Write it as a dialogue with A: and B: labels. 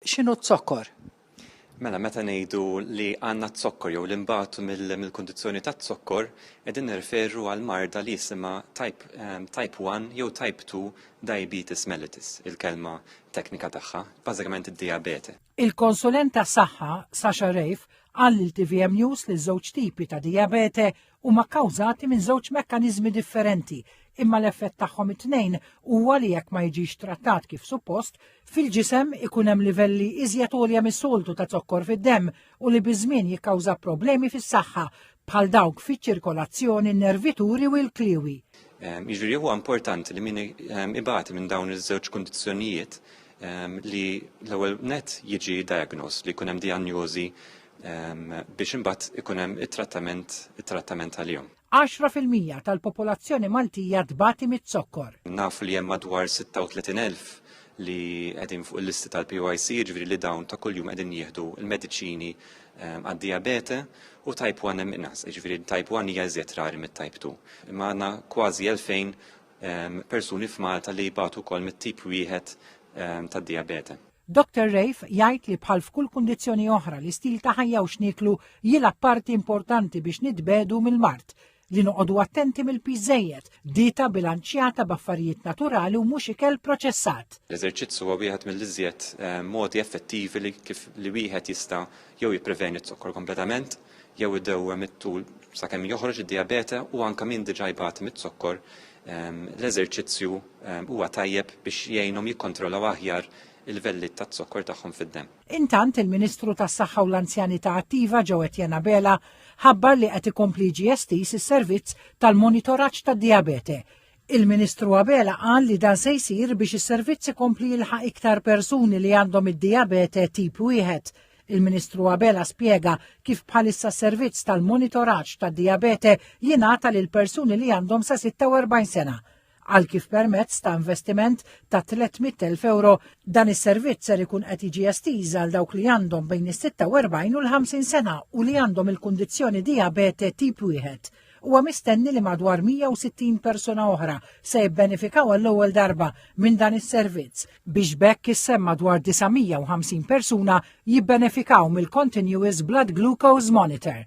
A: X'inhu z-zokkor? Mela
B: meta ngħidu li għandna z-zokkor jew li nbatu mill-kundizzjoni ta' z-zokkor, qegħdin nirreferu għal marda li jisimha type, ehm, type 1 jew type 2 diabetes mellitus, il-kelma teknika tagħha, bażikament id-dijabete. Il-konsulent
C: tas-saħħa Sasha Reiff qal lil tvm News li ż-żewġ tipi ta' dijabete huma kkawżati minn żewġ mekkaniżmi differenti, imma l-effett tagħhom it-tnejn huwa li jekk ma jiġix trattat kif suppost, fil-ġisem ikun hemm livelli iżjed għolja mis-soltu ta' zokkor fid-demm u li biż-żmien jikkawża problemi fis-saħħa bħal dawk fiċ-ċirkolazzjoni, nervituri u l-kliewi. Ehm, jiġri huwa
B: importanti li min ehm, ibati minn dawn iż-żewġ kundizzjonijiet ehm, li l-ewwel net jiġi diagnos li jkun hemm diagnosi biex imbagħad ikun hemm it-trattament it-trattament għalihom. 10%
C: tal-popolazzjoni Maltija tbati miz-zokkor. Nafu li hemm madwar
B: 36,000 li qegħdin fuq il-listi tal-PYC, ġifieri li dawn ta' kuljum qegħdin jieħdu l-mediċini ehm, għad-diabete u type 1 hemm inqas, ġifieri type 1 hija iżjed rari mit-type 2. Imma għandna kważi 2000 ehm, persuni f'Malta li jbatu wkoll mit-tip wieħed ehm, tad-diabete. Doctor Reif
C: jgħid li bħal f'kull kundizzjoni oħra li stil ta' ħajja u x'nieklu jilgħab parti importanti biex nitbedu mill-mard li noqogħdu attenti mill-piżejjed, dieta bilanċjata b'affarijiet naturali u mhux ikel proċessat. L-eżerċizzu huwa wieħed
B: mill-iżjed eh, modi effettivi li kif li wieħed jista' jew jippreveni z-zokkor kompletament jew idewwem it-tul sakemm joħroġ id-dijabete u anke min diġà jbati miz-zokkor, l-eżerċizzju huwa tajjeb biex jgħinhom jikkontrollaw aħjar il-livelli taz-zokkor tagħhom fid-demm. Intant, il-Ministru
C: tas-Saħħa u l-Anzjanità Attiva Joe Etienne Abela ħabbar li qed ikompli jiġi estiż is-servizz tal-monitoraġġ tad-dijabete, Il-Ministru Abela qal li dan se jsir biex is-servizz ikompli jilħaq iktar persuni li għandhom id-dijabete tip wieħed. Il-Ministru Abela spjega kif bħalissa s-servizz tal-monitoraġġ tad-dijabete jingħata lil persuni li għandhom sa 46 sena. Qal kif permezz ta' investiment ta' 300,000 euro dan is-servizz ser ikun qed jiġi estiż għal dawk li għandhom bejn is-46 u l-50 sena u li għandhom il-kundizzjoni dijabete tip wieħed. Huwa mistenni li madwar 160 persuna oħra se jibbenefikaw għall-ewwel darba minn dan is-servizz biex b'hekk issem madwar 950 persuna jibbenefikaw mill-Continuous Blood Glucose Monitor.